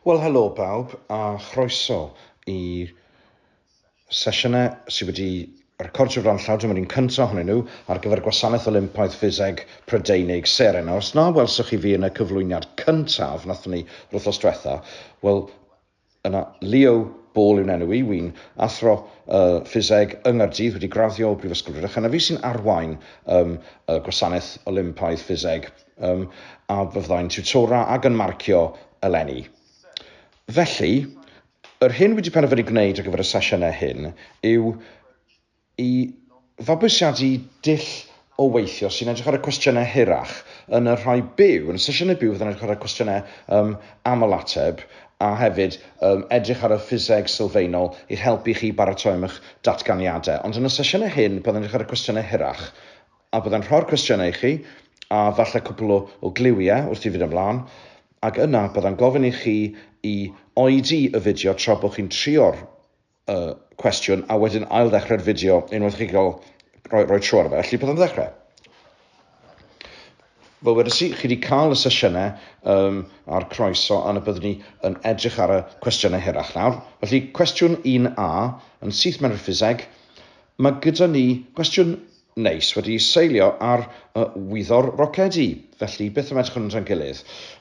Wel, helo bawb a chroeso i sesiynau sydd wedi recordio fran llaw. Dyma ni'n cyntaf ohonyn nhw ar gyfer y Gwasanaeth Olympaidd Ffiseg Prydeinig, SERE. Nawr, os na welsoch chi fi yn y cyflwyniad cyntaf nathon ni wrthos diwetha, wel, Yna, Leo Ball yw'n enw i, wy'n athro uh, ffiseg yng Nghaerdydd, wedi graddio o Brifysgol Rhydychen, a fi sy'n arwain um, y gwasanaeth Olympaidd ffiseg, um, a fe fyddai'n tiwtora ac yn marcio eleni. Felly, yr hyn wedi penderfynu gwneud ar gyfer y sesiynau hyn yw i fabwysiadu dull o weithio sy'n edrych ar y cwestiynau hirach yn y rhai byw, yn y sesiynau byw fydd yn edrych ar y cwestiynau um, aml-ateb a hefyd um, edrych ar y ffiseg sylfaenol i'ch helpu chi baratoi am eich datganiadau. Ond yn y sesiynau hyn byddai'n edrych ar y cwestiynau hirach a byddai'n rhoi'r cwestiynau i chi a falle cwpl o, o gliwiau wrth i fyd ymlaen ac yna byddai'n gofyn i chi i oedi y fideo tra bod chi'n trio'r uh, cwestiwn a wedyn ail ddechrau'r fideo unwaith chi gael rhoi, rhoi tro ar fe. Felly, byddai'n ddechrau. Fel wedys i, chi wedi cael y sesiynau um, a'r croeso a na byddwn ni yn edrych ar y cwestiynau hirach nawr. Felly, cwestiwn 1A yn syth mewn i'r ffiseg. Mae gyda ni gwestiwn Neis, wedi seilio ar y wyddor rocedi. Felly, beth am edrych ar hwnnw tra'n gilydd?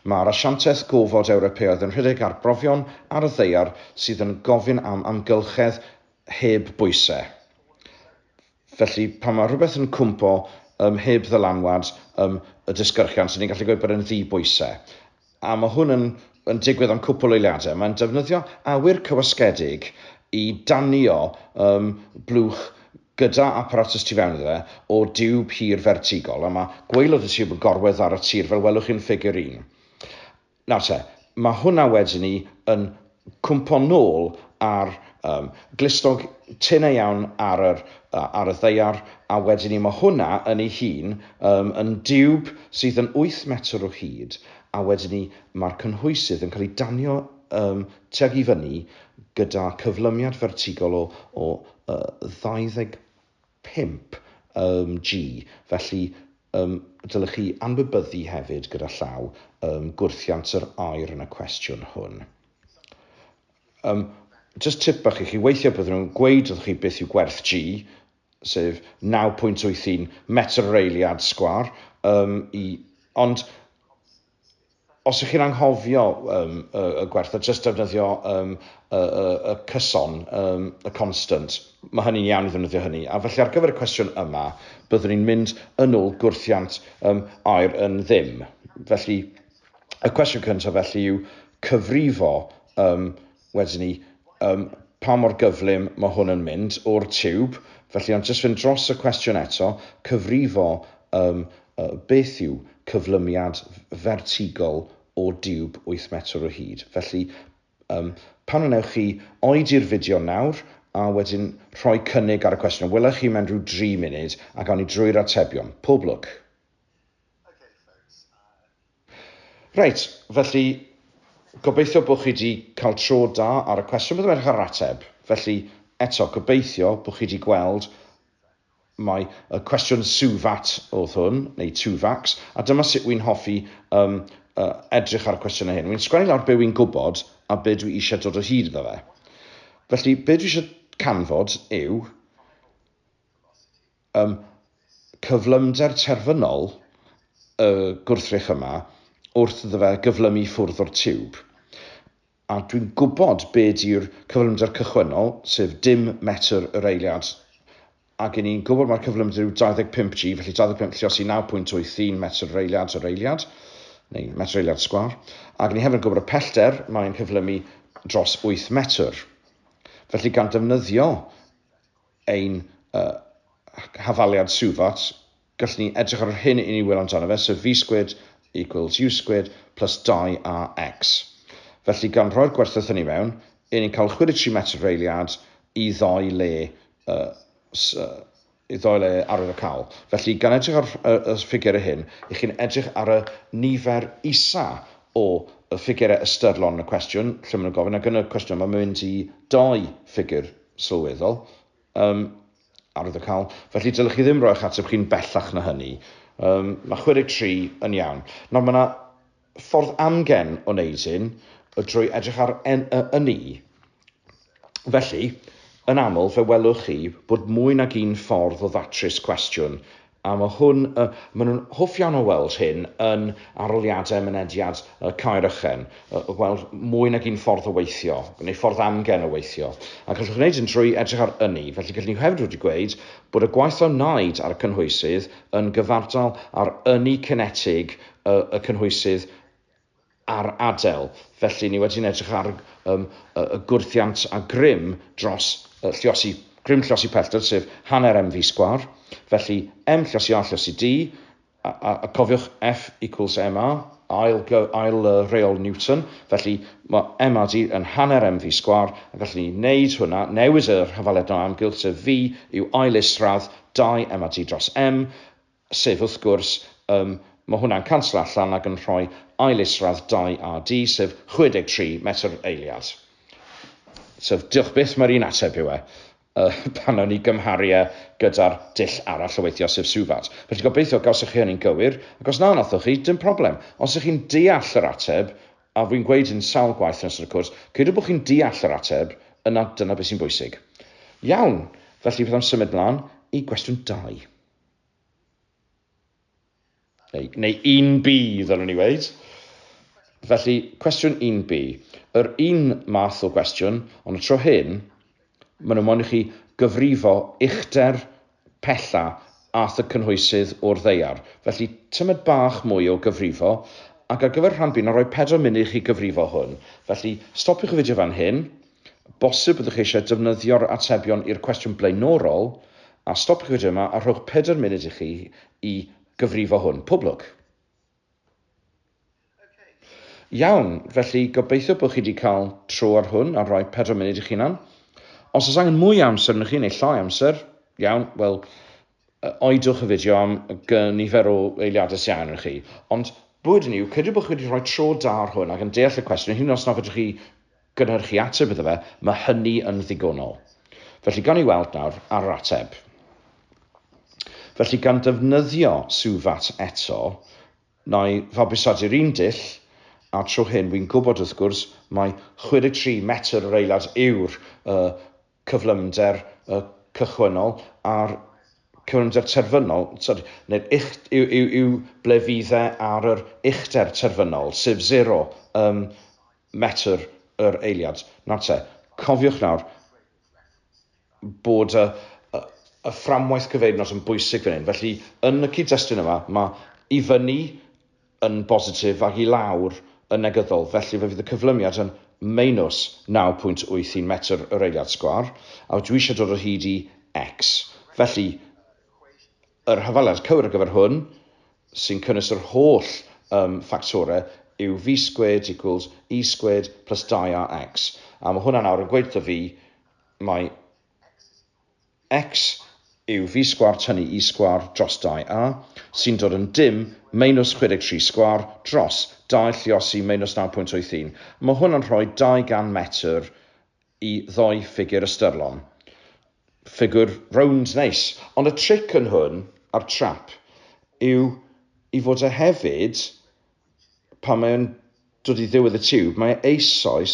Mae'r asianteth gofod Ewropeaidd yn rhedeg arbrofion ar y ddaear sydd yn gofyn am amgylchedd heb bwysau. Felly, pan mae rhywbeth yn cwympo ym mhib ddylanwad ym y disgyrchiant, 'y ni'n gallu gweud bod e'n ddi-bwysau. a mae hwn yn yn digwydd am cwpl o eiliadau, mae'n defnyddio awyr cywasgedig i danio um, blwch gyda apparatus tu fewn iddo fe o diwb hir fertigol, a mae gwaelod y tiwb yn gorwedd ar y tir, fel welwch chi'n ffigur un. Nawr te, mae hwnna wedyn ni yn cwympo nôl a'r um, glustog tynau iawn ar, yr, ar y ddeiar, a wedyn ni mae hwnna yn ei hun um, yn diwb sydd yn 8 metr o hyd, a wedyn ni mae'r cynhwysydd yn cael ei danio um, tuag i fyny gyda cyflymiad fertigol o, o uh, 20 pump ym G, felly ym dylech chi anwybyddu hefyd gyda llaw ym gwrthiant yr air yn y cwestiwn hwn. Ym, just tip bach i chi, weithiau byddwn nhw'n gweud wrth chi beth yw gwerth G, sef 9.81 metr yr eiliad sgwar, ym, i, ond os ych chi'n anghofio um, y, y gwerth, a just defnyddio um, y, y, y cyson, um, y constant, mae hynny'n iawn i ddefnyddio hynny. A felly ar gyfer y cwestiwn yma, byddwn ni'n mynd yn ôl gwrthiant um, air yn ddim. Felly, y cwestiwn cyntaf felly yw cyfrifo um, Wedyn ni, um, pa mor gyflym mae hwn yn mynd o'r tiwb, felly ond jyst fynd dros y cwestiwn eto, cyfrifo um, uh, beth yw cyflymiad fertigol o diwb 8 metr o hyd. Felly, um, pan wnewch chi oed i'r fideo nawr, a wedyn rhoi cynnig ar y cwestiwn. Wylech chi mewn rhyw 3 munud a gawn ni drwy'r atebion. Pob lwc! Reit, felly, gobeithio bod chi wedi cael tro da ar y cwestiwn. Byddwn edrych ar yr ateb. Felly, eto, gobeithio bod chi wedi gweld mae y cwestiwn SUVAT oedd hwn, neu TUVAX, a dyma sut wy'n hoffi um, uh, edrych ar y cwestiynau hyn. Wy'n sgwennu lawr be wy'n gwybod a be dwi eisiau dod o hyd iddo fe. Felly, be dwi eisiau canfod yw Ym cyflymder terfynol y gwrthrych yma, wrth iddo fe gyflymu i ffwrdd o'r tiwb, a dwi'n gwybod be di'r cyflymder cychwynnol, sef dim metr yr eiliad, ac i ni'n gwybod mai'r cyflymder yw 25 G, felly 25 llios i 9.81 metr yr eiliad yr eiliad, neu metr eiliad sgwâr, ac ni hefyd yn gwybod y pellter mae'n cyflymu dros 8 metr. Felly gan ddefnyddio ein hafaliad Suvot, gallwn ni edrych ar yr hyn i ni wylo amdano fe, sef V squared equals U squared plus 2AX. Felly, gan roi'r gwerthoedd hynny mewn, i ni'n cael 63 metr yr eiliad i ddoi le i ddoi le arwydd o cawl. Felly, gan edrych ar y ffigurau hyn, i chi'n edrych ar y nifer isa o ffigurau ystyrlon yn y cwestiwn, lle maen nhw'n gofyn, ac yn y cwestiwn yma mae'n mynd i doi ffigur sylweddol, um, ar y cawl, felly dylech chi ddim roi eich ateb chi'n bellach na hynny. Um, mae 63 yn iawn. Nawr mae yna ffordd amgen o wneud hyn drwy edrych ar en, y, y ni. Felly, yn aml fe welwch chi bod mwy nag un ffordd o ddatrys cwestiwn A mae hwn, maen nhw'n hoff iawn o weld hyn yn arholiadau mynediad Caerychen, gweld mwy nag un ffordd o weithio, neu ffordd amgen o weithio. A gallwch wneud hyn drwy edrych ar ynni. Felly, gallwn ni hefyd wedi gweud bod y gwaith a wnaed ar y cynhwysydd yn gyfartal ar ynni cinetig y cynhwysydd, ar Adel. Felly, ni wedi'n edrych ar um, y gwrthiant a grym dros uh, lliosi, grym lliosi pellter, sef hanner mv sgwar. Felly, m lliosi a lliosi d, a, a, a cofiwch F equals ma, ail, ail uh, reol Newton. Felly, mae ma d yn hanner mv sgwar, a gallwn ni wneud hwnna, newid yr hyfaledd na amgylch, sef v yw ail isradd 2 ma d dros m, sef wrth gwrs, yym, ma' hwnna'n canslo allan ac yn rhoi ail isradd 2AD, sef 63 metr eiliad. So, diolch byth, mae'r un ateb yw e, uh, pan nawn ni gymharu e gyda'r dull arall o weithio, sef Suvat. Felly gobeithio gawsoch chi hynny'n gywir, ac os na nathoch chi, dim problem. Os ych chi'n deall yr ateb, a fi'n gweud yn sawl gwaith yn ystod y cwrs, credu bod chi'n deall yr ateb, yna dyna beth sy'n bwysig. Iawn, felly beth am symud mlaen i gwestiwn 2. Neu, neu 1B, ddylwn i weid. Felly, cwestiwn 1B. Yr un math o gwestiwn, ond y tro hyn, maen nhw moyn i chi gyfrifo uchder pella ath y cynhwysydd o'r ddeiar. Felly, tymed bach mwy o gyfrifo, ac ar gyfer rhan B, na roi pedwar munud i chi gyfrifo hwn. Felly, stopiwch y fideo fan hyn, Bosib byddwch eisiau defnyddio'r atebion i'r cwestiwn blaenorol, a stopiwch fideo yma a rhowch pedair munud i chi i gyfrifo hwn. Pob lwc! Iawn, felly gobeithio bod chi wedi cael tro ar hwn a rhoi pedair munud i chi hunan. Os oes angen mwy amser yno chi, neu llai amser, iawn, wel, Oedwch y fideo am nifer o eiliadau sy angen chi. Ond, bywyd yn yw, credu bod chi wedi rhoi tro da ar hwn ac yn deall y cwestiwn, hyd yn oes na fedrwch chi gynhyrchu ateb iddo fe, mae hynny yn ddigonol. Felly, gan ni weld nawr ar yr ateb. Felly, gan ddefnyddio Suvat eto, na i fabwysadu'r un dull a'r tro hyn, wi'n gwybod wrth gwrs mai 63 metr yr eiliad yw'r uh, cyflymder cychwynnol a'r cyflymder terfynol, sori, neu'r ucht, yw, yw, yw ble fydd e ar yr uchder terfynol, sef zero ym metr yr eiliad. Nawr te, cofiwch nawr bod y, y, y fframwaith gyfeiriad yn bwysig fan hyn. Felly, yn y cyd-destun yma, mae i fyny yn bositif ac i lawr yn negyddol, felly fe fydd y cyflymiad yn meinws 9.81 metr yr eiliad sgwâr, a dwi eisiau dod o hyd i X. Felly, yr hafaliad cywir ar gyfer hwn, sy'n cynnwys yr holl um, ffactorau, yw V squared equals E squared plus 2AX. A mae hwnna nawr yn gweud wrtho fi mai X yw fi sgwâr tynnu Y sgwâr dros 2A sy'n dod yn dim meinws 63 sgwâr dros 2 lluosi meinws 9.81. Mae hwn yn rhoi 200 metr i ddoi ffigur ystyrlon. Ffigur rownd neis. Ond y tric yn hwn, a'r trap, yw i fod e hefyd, pan mae o'n Dod i ddiwedd y tiwb, mae eisoes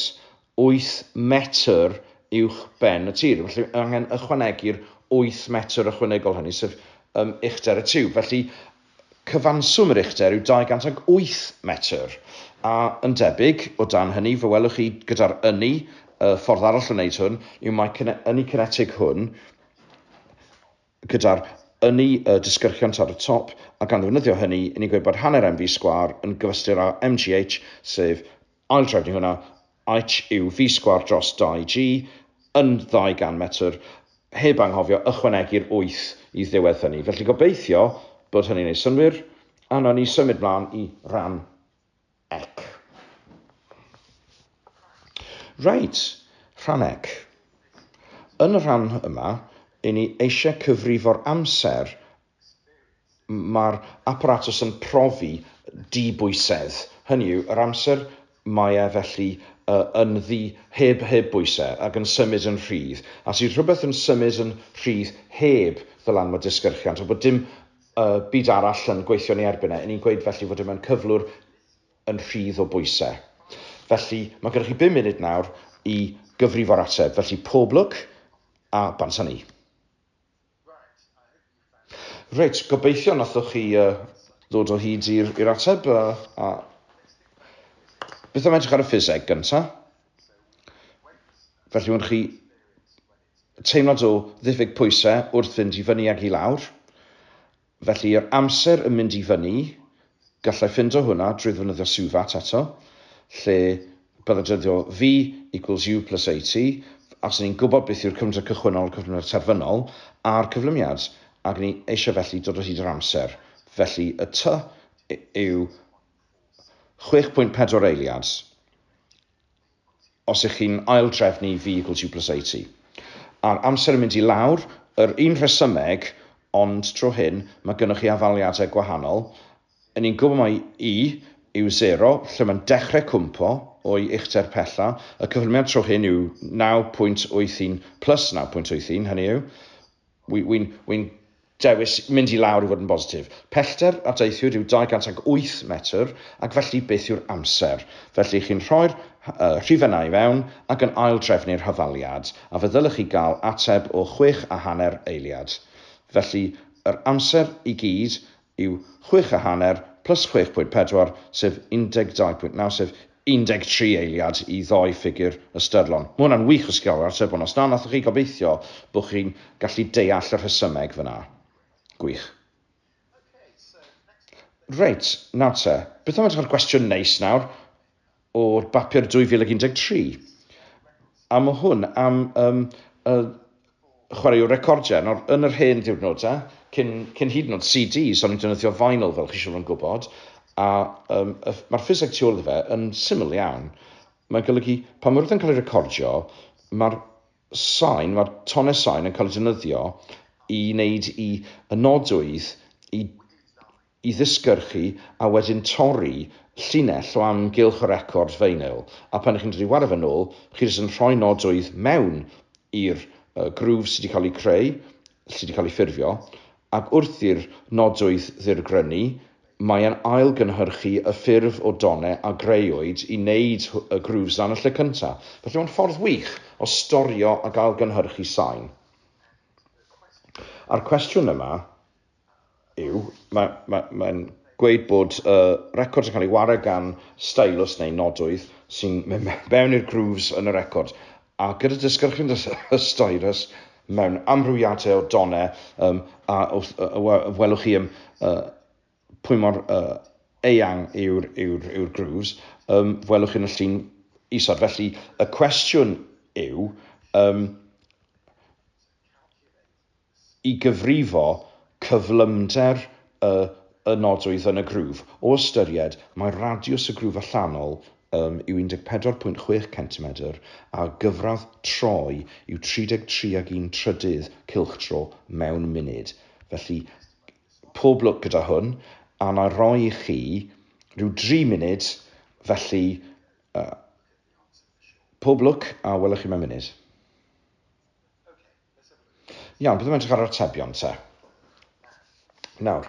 wyth metr uwch ben y tir, felly mae angen ychwanegu'r wyth metr ychwanegol hynny, sef um, uchder y tiwb. Felly, cyfanswm yr uchder yw 208 metr. A yn debyg, o dan hynny, fe welwch chi gyda'r ynni, y ffordd arall o wneud hwn yw mae ynni cinetig hwn gyda'r ynni y disgyrchiant ar y top, a gan ddefnyddio hynny, i ni gweud bod hanner MV sgwâr yn gyfystyr â MGH, sef, aildrefnu hwnna, H yw V sgwâr dros 2G, yn 200 metr, heb anghofio ychwanegu'r 8 i ddiwedd hynny. Felly, gobeithio bod hynny'n ei synnwyr, a wnawn ni symud mlaen i ran Ec. Reit, rhan Ec. Yn y rhan yma, i ni eisiau cyfrifo'r amser mae'r apparatus yn profi dibwysedd, hynny yw, yr amser mae e felly yn ddi heb heb bwysau ac yn symud yn rhydd. As yw rhywbeth yn symud yn rhydd heb ddylanwad disgyrchiant, a bod dim y byd arall yn gweithio yn ei erbyn e, 'yn ni'n gweud felly fod e mewn cyflwr yn rhydd o bwysau. Felly, mae gennych chi bum munud nawr i gyfrifo'r ateb. Felly, pob lwc a bansa ni. Reit, gobeithio nathoch chi uh, ddod o hyd i'r ateb. Uh, a... Beth am edrych ar y ffiseg gyntaf? Felly, wnawn chi teimlad o ddiffyg pwysau wrth fynd i fyny ac i lawr, felly yr amser yn mynd i fyny, gallai ffindo hwnna drwy ddefnyddio Suvat eto, lle byddai defnyddio V equals U plus AT, a fyswn i'n gwybod beth yw'r cyflymder cychwynnol, cyflymder terfynol, a'r cyflymiad, ac ni eisiau felly dod o hyd yr amser. Felly y T yw 6.4 eiliad. os ych chi'n aildrefnu vehicles you plus eighty. A'r amser yn mynd i lawr, yr un rhesymeg, ond tro hyn, mae gynnoch chi afaliadau gwahanol. Yn i'n gwybod mai i yw zero, lle mae'n dechrau cwmpo o'i uchder pella. Y cyflymiad tro hyn yw naw pwynt wyth un plus naw pwynt wyth un, hynny yw, Wi, wi'n, wi'n dewis mynd i lawr i fod yn bositif. Pellter a deithiwyd yw 208 metr ac felly beth yw'r amser? Felly chi'n rhoi'r rhifenau i fewn ac yn aildrefnu'r hyfaliad a fe ddylech chi gael ateb o chwech a hanner eiliad. Felly yr amser i gyd yw chwech a hanner plus chwech pwynt pedwar, sef 12.9, sef 13 eiliad i ddoi ffigur ystyrlon. Mae hwnna'n wych o sgil yr atebion. Os na nathoch chi gobeithio bod chi'n gallu deall y rhesymeg fyna. Gwych. Reit, nawr te, beth am edrych ar gwestiwn neis nawr? o'r bapur 2013. A mae hwn am um, uh, chwaraewr recordiau. Nawr, yn yr hen ddiwrnodau, cyn, cyn hyd yn oed CDs, o'n i'n defnyddio vinyl fel chi siwr yn gwybod, a um, mae'r ffiseg tu ôl iddo fe yn syml iawn. Mae'n golygu, pan mae rhywbeth yn cael ei recordio, mae'r sain, mae'r tonau sain yn cael ei defnyddio i wneud i y nodwydd i i ddisgyrchu a wedyn torri llinell o amgylch y record feinyl a pan chi'n dod i wario fe nôl chi jyst yn rhoi nodwydd mewn i'r groove sydd wedi cael ei creu, sydd wedi cael ei ffurfio ac wrth i'r nodwydd ddirgrynu mae e'n ail gynhyrchu y ffurf o done a greuwyd i wneud y grooves yna yn y lle cynta'. Felly mae'n ffordd wych o storio ac ail gynhyrchu sain. A'r cwestiwn yma yw, mae'n ma, ma gweud bod y uh, record yn cael ei wario gan stylus neu nodwydd sy'n mynd mewn i'r grooves yn y record. A gyda disgyrchyn y stylus mewn amrywiadau o donau, um, a wrth, uh, welwch chi um, uh, pwy mor uh, eang yw'r yw yw, yw grooves, um, welwch chi'n y llun isod. Felly, y cwestiwn yw, um, i gyfrifo cyflymder y y nodwydd yn y grwf, o ystyried mai radiws y grwf allanol ym yw 14.6 centimedr a gyfradd troi yw 33 ag un trydydd cylchdro mewn munud. Felly, pob lwc gyda hwn, a wna i roi i chi rhyw dri munud, felly, yy, pob lwc a welwch chi mewn munud. Iawn, byddwn yn edrych ar yr atebion te. Nawr,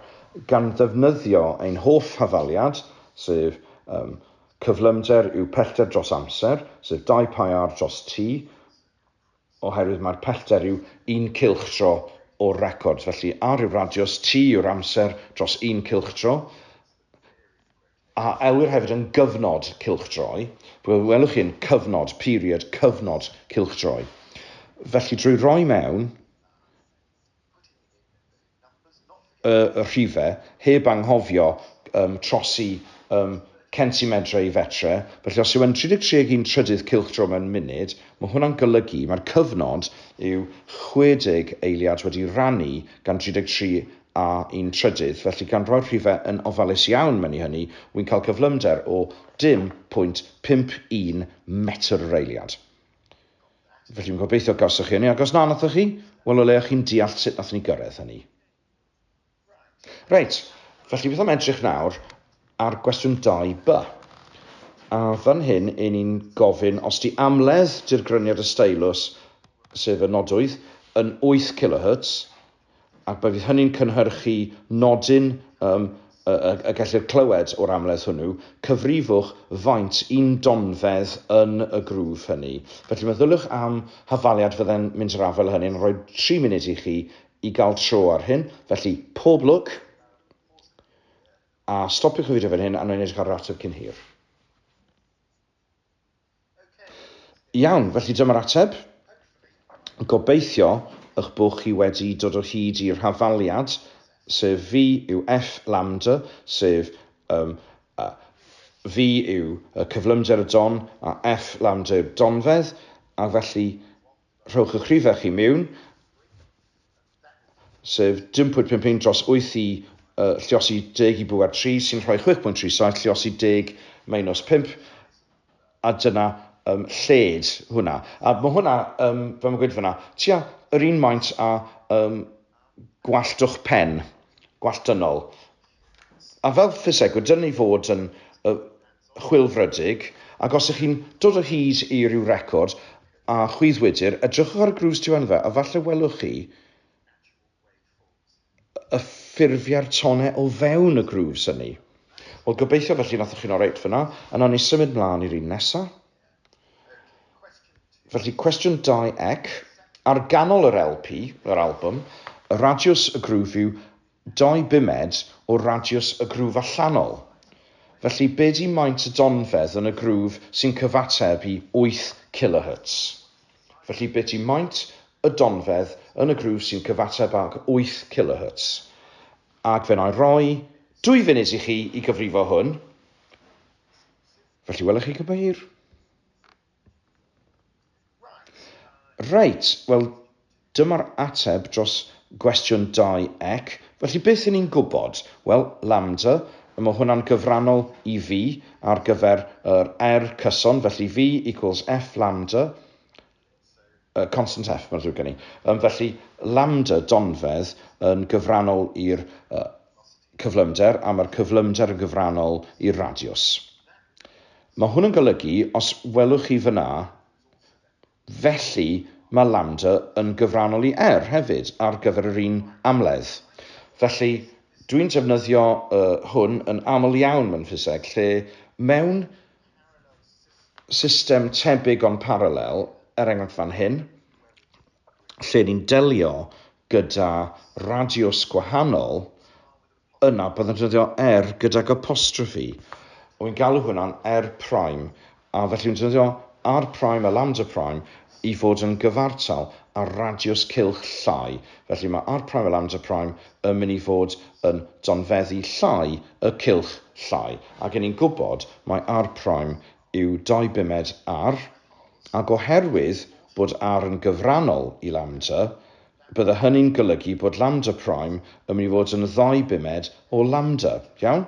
gan ddefnyddio ein holl hafaliad, sef um, cyflymder yw pellter dros amser, sef 2 pi r dros t, oherwydd mae'r pellter yw un cylch tro o'r record. Felly, r yw'r radius, t yw'r amser dros un cylch tro. A elwir hefyd yn gyfnod cylchdroi, fe welwch chi yn cyfnod, period, cyfnod cylchdroi. Felly drwy roi mewn y rhifau heb anghofio um, trosi um, centimetre i fetre. Felly os yw yn 33 ag 1 trydydd cylchdro mewn munud, mae hwnna'n golygu mae'r cyfnod yw 60 eiliad wedi rannu gan 33 a un trydydd, felly gan roi'r rhifau yn ofalus iawn mewn i hynny, wy'n cael cyflymder o 0.51 metr yr eiliad. Felly fi'n gobeithio gawsoch chi hynny, ac os na nathoch chi, wel o leia chi'n deall sut nath ni gyrraedd hynny. Reit, felly beth am edrych nawr ar gwestiwn 2b. A fan hyn, yn ni'n gofyn os di amledd dirgryniad y steilws, sef y nodwydd, yn 8 kHz, ac fe fydd hynny'n cynhyrchu nodyn ym y gellir clywed o'r amledd hwnnw, cyfrifwch faint un donfedd yn y grŵf hynny. Felly meddyliwch am hafaliad fydde'n mynd i'r afael â hynny, yn rhoi tri munud i chi i gael tro ar hyn, felly pob lwc, a stopiwch y fideo fan hyn a wna i wneud eich ar yr ateb cyn hir. Iawn, felly dyma'r ateb. Gobeithio y'ch bod chi wedi dod o hyd i'r hafaliad, sef V yw F lambda, sef um, uh, V yw y cyflymder y don a F lambda yw'r donfedd, a felly rhowch y'ch rhifau chi miwn, sef 10.51 dros 8 i uh, lliosi 10 i bŵer 3 sy'n rhoi 6.37 lliosi 10 minus 5 a dyna um, lled hwnna. A mae hwnna, um, fe mae'n gweud fyna, tua yr un maint a um, gwalltwch pen, gwallt dynol. A fel ffisegwyr, dyn ni fod yn uh, chwilfrydig, ac os ych chi'n dod o hyd i ryw record, A chwyddwydr, edrychwch ar y grŵs tu fan fa a falle welwch chi y ffurfiau'r tonau o fewn y grŵs hynny. Wel, gobeithio felly nathoch chi'n oreit fyna. Yna ni symud mlaen i'r un nesa. Felly, cwestiwn 2 ec, ar ganol yr LP, yr album, y radiws, y grŵf yw Dau bumed o radiws y grwf allanol. Felly be di maint y donfedd yn y grwf sy'n cyfateb i wyth kilohertz? Felly be di maint y donfedd yn y grwf sy'n cyfateb ag wyth kilohertz? Ac fe wna roi dwy funud i chi i gyfrifo hwn. Felly welwch chi cybeir. Reit, wel, dyma'r ateb dros gwestiwn 2 ec, felly beth 'yn ni'n gwybod? Wel, lambda, mae hwnna'n gyfrannol i fi ar gyfer yr R cyson, felly V equals F lambda, Y constant F, mae'n ddrwg gen i. Um, felly, lambda donfedd yn gyfrannol i'r uh, cyflymder, a mae'r cyflymder yn gyfrannol i'r radiws. Mae hwn yn golygu, os welwch chi fyna, felly mae lambda yn gyfrannol i R hefyd ar gyfer yr un amledd. Felly, dwi'n defnyddio uh, hwn yn aml iawn mewn ffiseg, lle mewn system tebyg ond parallel, er enghraifft fan hyn, lle ni'n delio gyda radiws gwahanol, yna byddwn yn defnyddio er gydag apostrophe. Wy'n galw hwnna'n er prime, a felly wy'n defnyddio r prime a lambda prime i fod yn gyfartal ar radiws cylch llai, felly mae R prime a lambda prime yn mynd i fod yn donfeddu llai y cylch llai, ac 'y ni'n gwybod mai R prime yw dou bumed R, ac oherwydd bod R yn gyfrannol i lambda, bydde hynny'n golygu bod lambda prime yn mynd i fod yn ddou bumed o lambda. Iawn?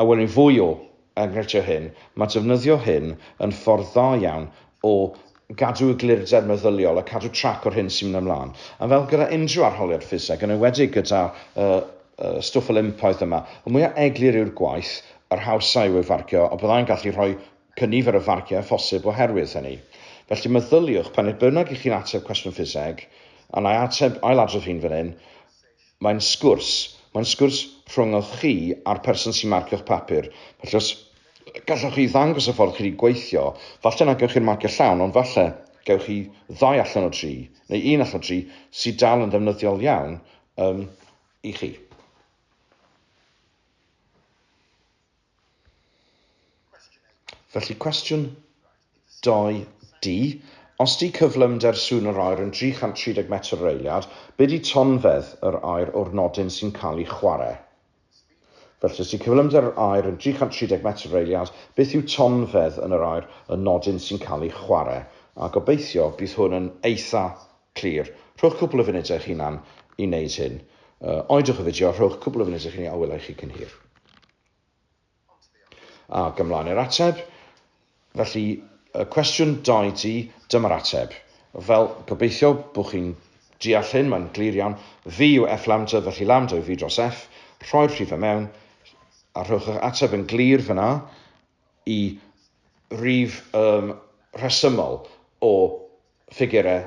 A wn i fwy o enghreifftiau hyn, mae defnyddio hyn yn ffordd dda iawn o gadw eglurder meddyliol a cadw trac o'r hyn sy'n mynd ymlaen. A fel gyda unrhyw arholiad ffiseg, yn enwedig gyda y y stwff Olympaidd yma, y mwya eglur yw'r gwaith, yr hawsa yw ei farcio, a byddai'n gallu rhoi cynifer o farciau â phosib oherwydd hynny. Felly meddyliwch, pan nid bynnag i chi'n ateb cwestiwn ffiseg, a wna i ateb, ail-adrodd hyn fan hyn, Mae'n sgwrs. Mae'n sgwrs rhwnghoch chi a'r person sy'n marcio'ch papur. Felly os gallwch chi ddangos y ffordd chi wedi gweithio, falle na gewch chi'r marcio llawn, ond falle gewch chi ddau allan o dri, neu un allan o dri, sydd dal yn ddefnyddiol iawn um, i chi. Felly cwestiwn 2D, os di cyflymder sŵn yr aer yn 330 metr yr eiliad, be di tonfedd yr aer o'r nodyn sy'n cael ei chwarae? Felly os di cyflymder yr aer yn 330 metr yr eiliad, beth yw tonfedd yn yr aer y nodyn sy'n cael ei chwarae? A gobeithio bydd hwn yn eitha clir. Rhowch cwpl o funudau eich hunan i wneud hyn. Oedwch y fideo, rhowch cwpl o funudau i chi ni a wela i chi cyn hir. Ac ymlaen i'r ateb. Felly, y cwestiwn da i ti, dyma'r ateb. Fel, gobeithio bod chi'n deall hyn, mae'n glir iawn. V yw F lambda, felly lambda yw V dros F. Rhoi'r rhifau mewn, a rhowch eich ateb yn glir fyna i rif um, rhesymol o ffigurau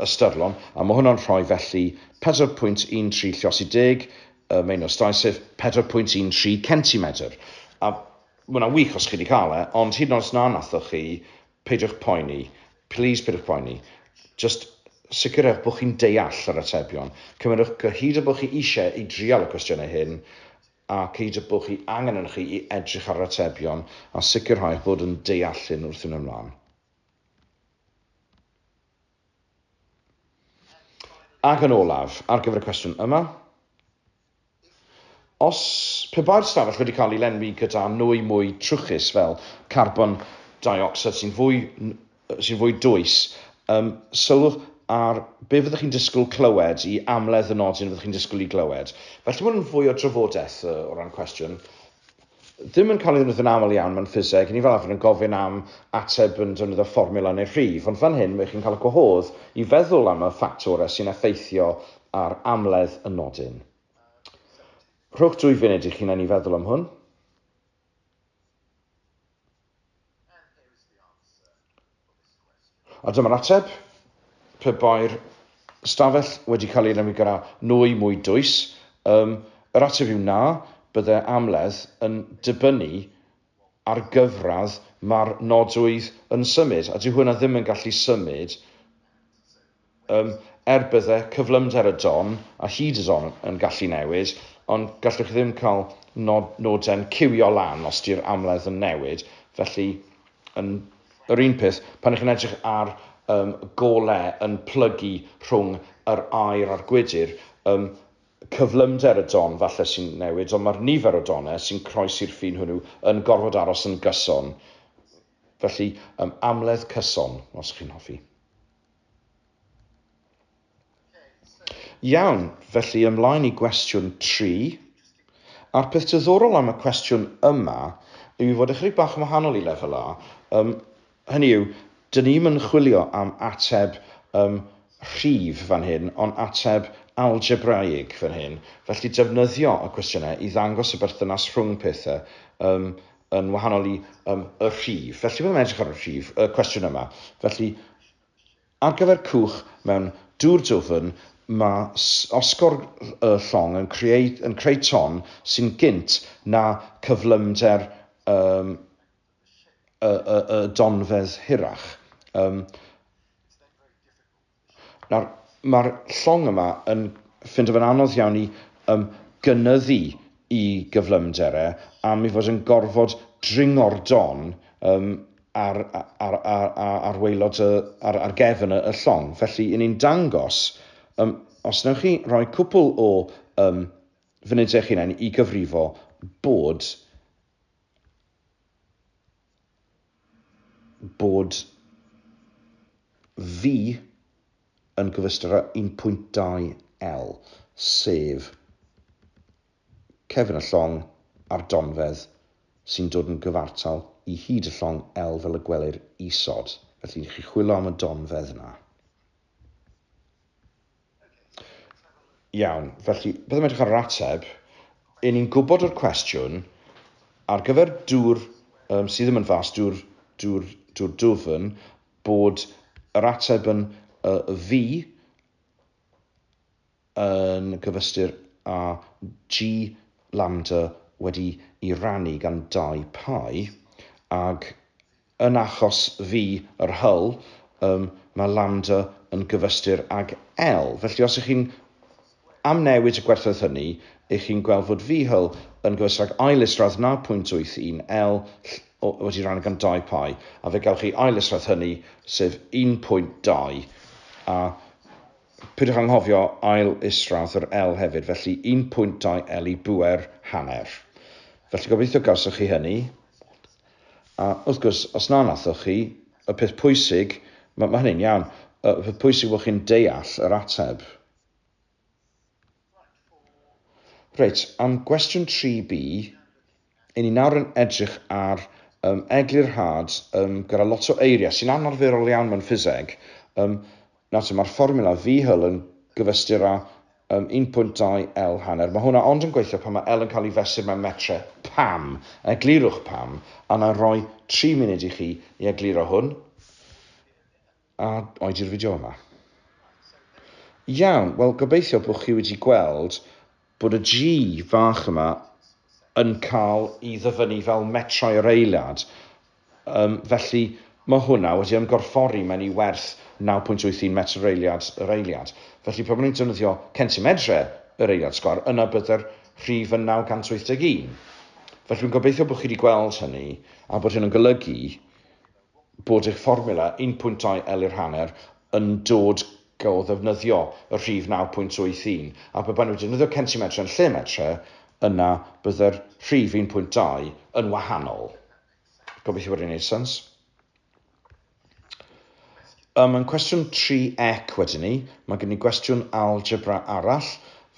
ystyrlon, a mae hwnna'n rhoi felly 4.13 llosi deg y meinostau, sef 4.13 centimetr. A mae hwnna'n wych os chi wedi cael e, ond hyd yn oes na nathoch chi, peidiwch poeni, please peidiwch poeni. Just sicrhewch bod chi'n deall yr atebion. Cymrydwch gyhyd o bod chi eisiau i drial y cwestiynau hyn, a cyhyd o bod chi angen yn chi i edrych ar yr atebion a sicrhau bod yn deall hyn wrth fynd ymlaen. Ac yn olaf, ar gyfer y cwestiwn yma, os pe bai'r stafell wedi cael ei lenwi gyda nwy mwy trwchus fel carbon dioxide sy'n fwy, sy'n fwy dwys, um, sylwch ar be fyddwch chi'n disgwyl clywed i amledd y nodyn fyddwch chi'n disgwyl i glywed. Felly mae hwn yn fwy o drafodaeth uh, o ran cwestiwn. ddim yn cael ei ddefnyddio'n aml iawn mewn ffiseg, ni fel arfer yn gofyn am ateb yn defnyddio fformiwla neu rhif, ond fan hyn mae chi'n cael y gwahodd i feddwl am y ffactorau sy'n effeithio ar amledd y nodyn. Rhowch dwy funud i'ch hunain i feddwl am hwn. A dyma'r ateb, pe bai'r ystafell wedi cael ei lenwi gyda nwy mwy dwys, yym, yr ateb yw na, bydde amledd yn dibynnu ar gyfradd mae'r nodwydd yn symud, a dyw hwnna ddim yn gallu symud Yym, er bydde cyflymder y don a hyd y don yn gallu newid, ond gallwch chi ddim cael nod, noden ciwio lan os di'r amledd yn newid, felly yn yr un peth, pan ych chi'n edrych ar um, gole yn plygu rhwng yr aer a'r gwydr, um, cyflymder y don falle sy'n newid, ond mae'r nifer o donau sy'n croesi'r ffin hwnnw yn gorfod aros yn gyson. Felly, um, amledd cyson, os chi'n hoffi. Iawn, felly ymlaen i gwestiwn tri. A'r peth diddorol am y cwestiwn yma yw ei fod ychydig bach yn wahanol i lefel A. Um, hynny yw, dyn ni'm yn chwilio am ateb um, rhif fan hyn, ond ateb algebraiig fan hyn. Felly defnyddio y cwestiynau i ddangos y berthynas rhwng pethau um, yn wahanol i um, y rhif. Felly byddwn yn edrych ar y rhif, y cwestiwn yma. Felly, ar gyfer cwch mewn dŵr dwfn, mae osgor y llong yn creu, yn creu ton sy'n gynt na cyflymder um, y, y, y donfedd hirach. Um, Nawr, mae'r llong yma yn ffindo fe'n anodd iawn i um, gynyddu i gyflymder e am ei fod yn gorfod dringo'r don um, ar, ar, ar, ar, ar weilod y, ar, ar gefn y, y llong. Felly, yn ni'n dangos, um, os newch chi roi cwpl o um, funudau eich hunain i gyfrifo bod bod fi yn gyfystyr â 1.2L, sef cefn y llong a'r donfedd sy'n dod yn gyfartal i hyd y llong L fel y gwelir isod. Felly, chi'n chwilo am y donfedd 'na. Iawn, felly, byddwn edrych ar yr ateb. Yn ni'n gwybod o'r cwestiwn, ar gyfer dŵr um, sydd ddim yn fas, dŵr, dŵr, dŵr dwfn, bod yr ateb yn uh, fi yn gyfystyr â G lambda wedi i rannu gan dau pai, ag Yn achos fi, yr Hull, yym, mae Landa yn gyfystyr ag L. Felly os ych chi'n amnewid y gwerthoedd hynny, ych chi'n gweld fod V Hull yn gyfystyr ag ail isradd 0.81 L ll o wedi rannu gan dau pi, a fe gewch chi ail isradd hynny, sef 1.2, a peidiwch anghofio ail isradd yr L hefyd, felly 1.2 L i bŵer hanner. Felly gobeithio gawsoch chi hynny, A, wrth gwrs, os na wnaethoch chi, y peth pwysig, mae, mae hynny'n iawn, y peth pwysig yw bod chi'n deall yr ateb. Reit, am gwestiwn 3B, i ni nawr yn edrych ar um, eglurhad um, gyda lot o eiriau sy'n anarferol iawn mewn ffiseg. Um, Nawr, mae'r fformiwla Vee Hull yn gyfystyr â um, 1.2 L hanner. Mae hwnna ond yn gweithio pan mae L yn cael ei fesur mewn metre. Pam? Eglurwch pam, a na roi 3 munud i chi i egluro hwn, a oedi'r fideo yma. Iawn, wel gobeithio bod chi wedi gweld bod y G fach yma yn cael i ddyfynnu fel metrau yr eiliad, um, felly mae hwnna wedi ymgorffori mewn i werth 9.81 metr yr eiliad yr eiliad. Felly pan ni'n defnyddio centimedrau yr eiliad sgwar, yna byddai'r rhif yn 981. Felly rwy'n gobeithio bod chi wedi gweld hynny a bod hyn yn golygu bod eich fformiwla un pwynt dau L i'r hanner yn dod o ddefnyddio y rhif 9.81, a pe baen nhw wedi defnyddio centimetre yn lle metre, yna byddai'r rhif un pwynt dau yn wahanol. Gobeithio bod e'n gwneud sens. Yym, yn cwestiwn 3 ec wedyn ni, mae gyda ni gwestiwn algebra arall,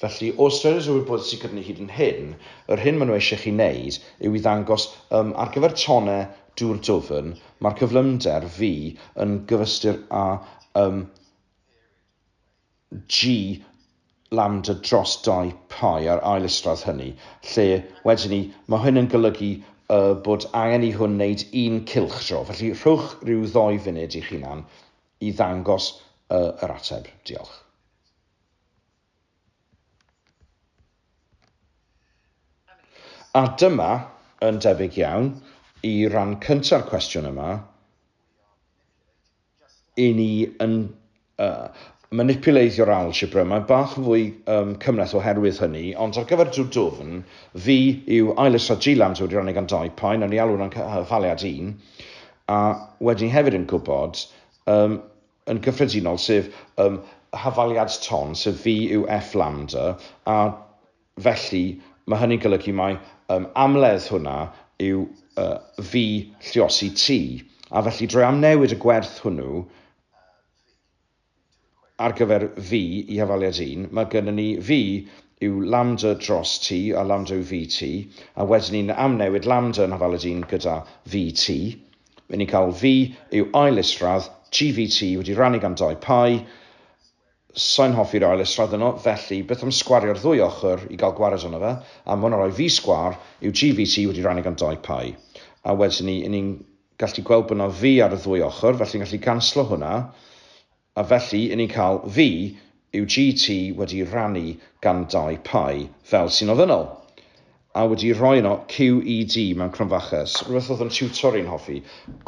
felly o ystyried yr wybodaeth sydd gyda ni hyd yn hyn, yr hyn maen nhw eisiau chi wneud yw i ddangos, yym, ar gyfer tonnau dŵr dwfn, mae'r cyflymder V yn gyfystyr â, yym, G Lambda dros 2 Pi a'r ail isradd hynny, lle, wedyn 'ny, mae hyn yn golygu y bod angen i hwn wneud un cylchdro. Felly, rhowch ryw ddou funud i'ch hunan i ddangos y yr ateb. Diolch. A dyma, yn debyg iawn, i ran cynta'r cwestiwn yma. i ni yn uh, manipuleisio'r algebra, mae'n bach yn fwy um, cymleth oherwydd hynny, ond ar gyfer drwy dwfn, fi yw ailysra Gilan sydd wedi rannu gan dau paen, yn ei alw yn cyhaliad un, a wedyn hefyd yn gwybod, um, yn gyffredinol, sef um, hafaliad ton, sef fi yw F lambda, a Felly, mae hynny'n golygu mai um, amledd hwnna yw uh, fi lliosi ti, a felly drwy amnewid y gwerth hwnnw ar gyfer fi i hafaliad un, mae gennym ni fi yw lambda dros ti a lambda yw fi ti, a wedyn ni'n amnewid lambda yn hafaliad un gyda fi ti. Mae ni'n cael fi yw ail isradd GVT wedi rannu gan dau pai, Sai'n hoffi'r ail israd yno, felly beth am sgwario'r ddwy ochr i gael gwared arno fe, a ma' hwnna'n rhoi fi sgwar, yw GVC wedi rannu gan dau Pi? A wedyn 'ny 'yn ni'n gallu gweld bod 'na fi ar y ddwy ochr, felly yn gallu ganslo hwnna, a felly 'yn ni'n cael fi yw GT wedi rannu gan dau Pi fel sy'n ofynnol. A wedi rhoi yno QED mewn cromfachus, rhywbeth oedd yn tiwtor i'n hoffi,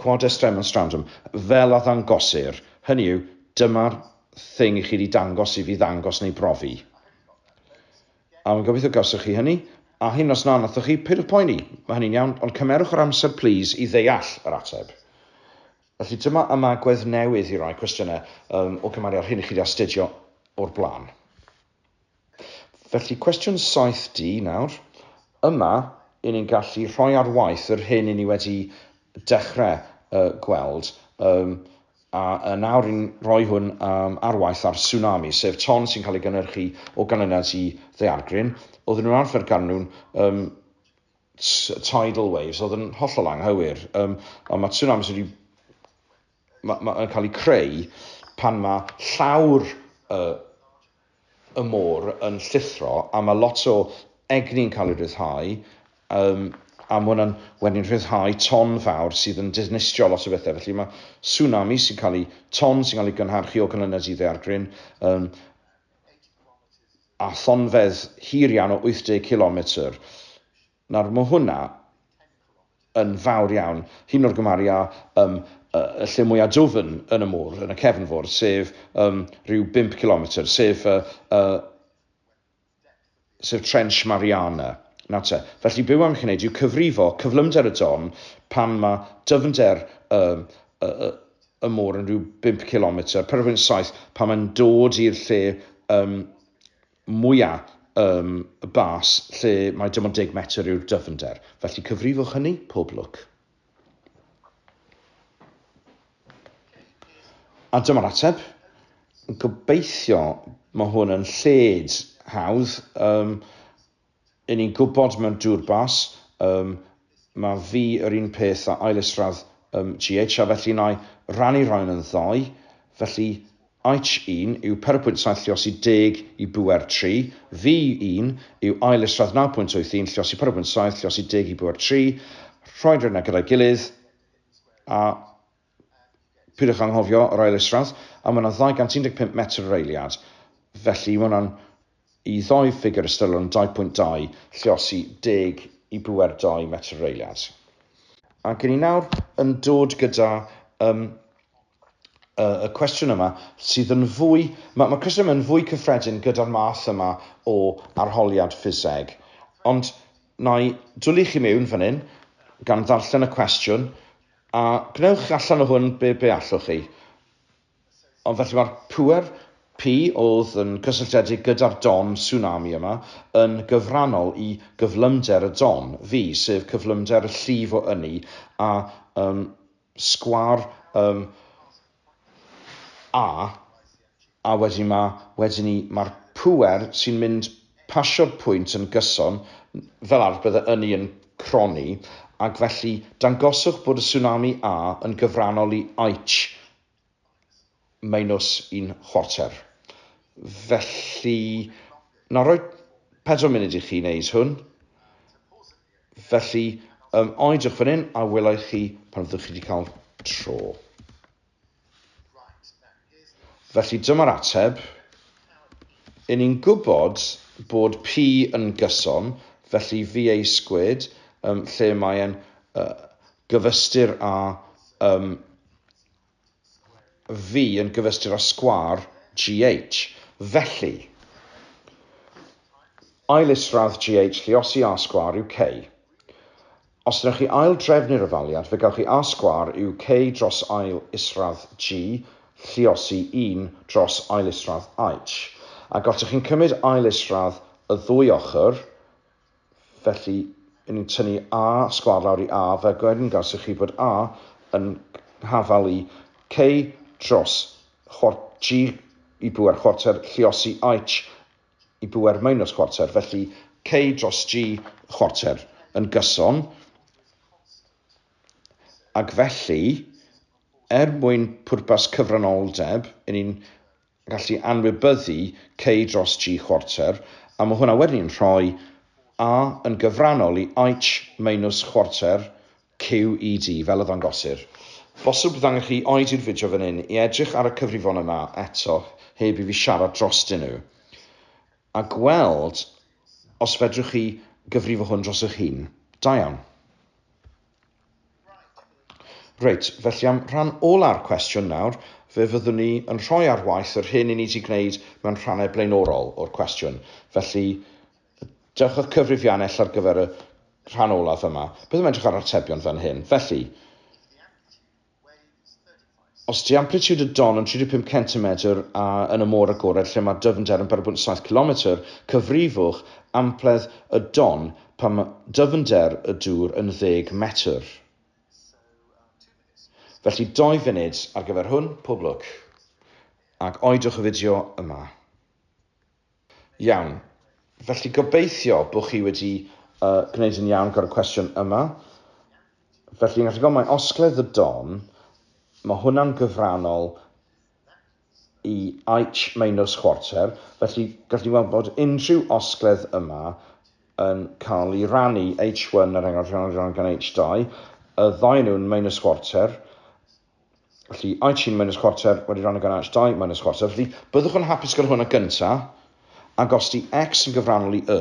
Quod est demonstrandum, fel a ddangosir, hynny yw, dyma'r thing i chi wedi dangos i fi ddangos neu brofi. A wy'n gobeithio gawsoch chi hynny, a hyn os na nathoch chi, peidiwch poeni, mae hynny'n iawn, ond cymerwch yr amser plîs i ddeall yr ateb. Felly dyma ymagwedd newydd i rai cwestiynau um, o gymharu â'r hyn i chi wedi astudio o'r blaen. Felly, cwestiwn 7D nawr. Yma, i ni'n gallu rhoi ar waith yr hyn i ni wedi dechrau uh, gweld, um, a, a nawr i'n rhoi hwn um, ar waith ar tsunami, sef ton sy'n cael ei gynnyrchu o ganlyniad i ddeargryn. Oedden nhw'n arfer ganlwn um, tidal waves, oedd yn hollol anghywir. Um, ond mae tsunamis wedi Mae, mae yn cael ei creu pan mae llawr y, y môr yn llithro a mae lot o egni'n cael ei ryddhau um, a mae hwnna'n wedyn rhyddhau ton fawr sydd yn dinistrio lot o bethau. Felly mae tsunami sy'n cael ei ton sy'n cael ei gynharchu o canlyniad i ddeargryn um, a thonfedd hir iawn o 80 km Nawr, mae hwnna yn fawr iawn. Un o'r gymharu â um, y lle mwyaf dwfn yn y môr, yn y cefnfor, sef um, rhyw 5 kilometr, sef, uh, uh, sef Trench Mariana. Na te. Felly byw am gwneud yw cyfrifo cyflymder y don pan mae dyfnder um, y, y, y môr yn rhyw 5 kilometr, per 7, pan mae'n dod i'r lle um, mwya ym bas lle mae dim ond deg metr yw'r dyfnder. Felly cyfrifwch hynny, pob lwc. A dyma'r ateb. Gobeithio mae hwn yn lled hawdd. Um, Yn ni'n gwybod mewn dŵr bas, yym, ma fi yr un peth a ail isradd yym GH a felly na i rannu rhain yn ddau, felly Aitch un yw pedwar pwynt saith lliosi deg i bŵer tri, Vy un yw ail isradd naw pwynt wyth un lliosi pedwar pwynt saith lliosi deg i bŵer tri, rhoi'r rheina gyda'i gilydd a Peidiwch anghofio yr ail isradd, a mae yna 215 metr yr eiliad, felly mae hwnna'n i ddoi ffigur ystyrlon 2.2, lle os i deg i bŵer 2 metr yr eiliad. Ac yn ni nawr yn dod gyda um, y cwestiwn yma sydd yn fwy, mae, mae cwestiwn yma yn fwy cyffredin gyda'r math yma o arholiad ffiseg. Ond na i dwlu chi mewn fan hyn, gan ddarllen y cwestiwn, A gwnewch allan o hwn be be allwch chi. Ond felly mae'r pŵer Pi oedd yn cysylltiedig gyda'r Don Tsunami yma yn gyfrannol i gyflymder y Don, fi, sef cyflymder y llif o ynni a um, sgwâr um, A, a wedyn ma', wedyn 'ny ma'r pŵer sy'n mynd pasio'r pwynt yn gyson, fel arf bydde ynni yn cronni, ac felly dangoswch bod y tsunami A yn gyfrannol i Aitch minus un chwarter. Felly, na roi pedwar munud i chi wneud hwn. Felly, um, oedwch fan hyn a welai chi pan fyddwch chi wedi cael tro. Felly dyma'r ateb. Yn ni'n gwybod bod P yn gyson, felly VA squared, um, lle mae'n uh, gyfystyr â um, fi yn gyfystyr â sgwâr GH. Felly, ail isradd GH lle os i A sgwâr yw K. Os wnewch chi ail drefnu'r ymaliad, fe gawch chi A sgwâr yw K dros ail isradd G lliosi 1 dros ail isradd H. A gotwch chi'n cymryd ail isradd y ddwy ochr, Felly, i ni'n tynnu A sgwâr lawr i A, fe gyngors i chi fod A yn hafal i C dros G i bŵer chwarter lluosi H i bŵer minus chwarter. Felly, C dros G chwarter yn gyson. Ac felly, er mwyn pwrpas cyfranoldeb, i ni'n gallu anwybyddu cei dros dri chwarter, a mae hwnna wedyn yn rhoi A yn gyfrannol i Aitch meinws chwarter QED, fel y ddangosir. Bosib ddangos chi oed i'r fideo fan hyn i edrych ar y cyfrifon yma eto heb i fi siarad drostyn nhw, a gweld os fedrwch chi gyfrifo hwn dros eich hun. Da iawn. Reit, felly am rhan ola'r cwestiwn nawr, fe fyddwn ni yn rhoi ar waith yr hyn i ni wedi gwneud mewn rhannau blaenorol o'r cwestiwn. Felly, dewch â'ch cyfrifiannell ar gyfer y rhan olaf yma. Byddwn yn edrych ar yr atebion fan hyn. Felly, Os ydy amplitude y don yn 35 centimetr a yn y môr agored lle mae dyfnder yn 4.7 cilometr, cyfrifwch ampledd y don pan mae dyfnder y dŵr yn 10 metr. Felly 2 funud ar gyfer hwn, pob lwc. Ac oedwch y fideo yma. Iawn. Felly gobeithio bod chi wedi uh, gwneud yn iawn gyda'r cwestiwn yma. Felly, yn gallu gofyn, osgledd y don, mae hwnna'n gyfrannol i aich meinws chwarter, felly gallu gweld bod unrhyw osgledd yma yn cael ei rannu H1 ar enghraifft rhan gan H2, y ddau nhw'n meinws chwarter, Felly, Aichin minus chwarter wedi rhan o gan Aich 2 minus chwarter. Felly, byddwch yn hapus gyda hwnna gynta, ac os di x yn gyfrannol i y,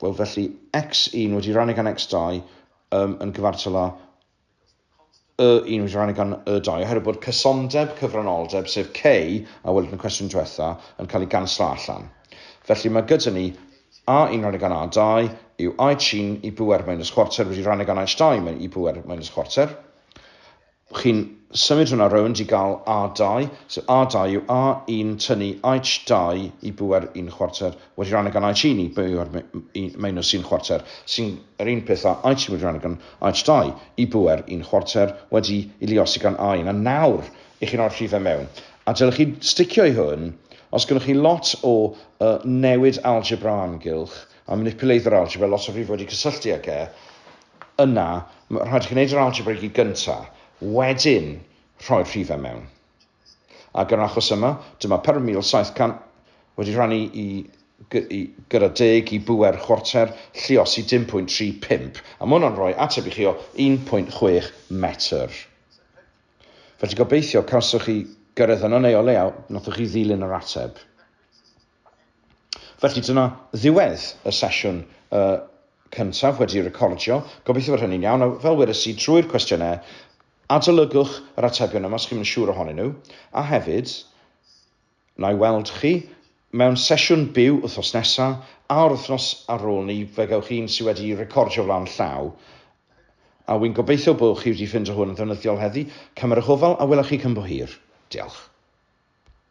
wel felly x1 wedi rhan o gan x2 um, yn gyfartal â y1 wedi rhan o gan y2, oherwydd bod cysondeb cyfranoldeb, sef k, a welwyd yn y cwestiwn diwetha, yn cael ei ganslo allan. Felly mae gyda ni A un rhan y ganai dau yw I trin i bŵer minus chwarter wedi rhan y ganai stai mewn i bŵer minus chwarter. Chi'n symud hwnna rownd i gael A2, so A2 yw A1 tynnu H2 i bŵer un chwarter wedi rhan y ganai trin i bŵer minus un chwarter, sy'n yr un peth a I trin wedi rhan y gan H2 i bŵer un chwarter wedi i liosi gan A1. A nawr, i chi'n o'r rhifau mewn. A dylech chi sticio i hwn os gynnoch chi lot o yy newid algebra o amgylch a manipuleiddio yr algebra, lot o rhif wedi cysylltu ag e, yna rhaid i chi wneud yr algebra i gyd gynta, wedyn rhoi'r rhifau mewn. Ac yn yr achos yma, dyma 4700 wedi rhannu i, i gyda deg i bŵer chwarter, lliosi 10.35, a mae hwnna'n rhoi ateb i chi o 1.6 metr. Felly gobeithio cawsoch chi gyrraedd yno neu o leiaf nathoch chi ddilyn yr ateb. Felly dyna ddiwedd y sesiwn uh, cyntaf wedi recordio. Gobeithio fod hynny'n iawn. A fel wedes i, trwy'r cwestiynau, adolygwch yr atebion yma os chi'n mynd siŵr ohonyn nhw. A hefyd, Na i weld chi mewn sesiwn byw wythnos nesa, a'r wythnos ar ôl 'ny fe gewch un sy wedi recordio flaen llaw, a wy'n gobeithio bo chi wedi ffindo hwn yn ddefnyddiol heddi, cymerwch ofal a wela chi cyn bo hir. Diolch.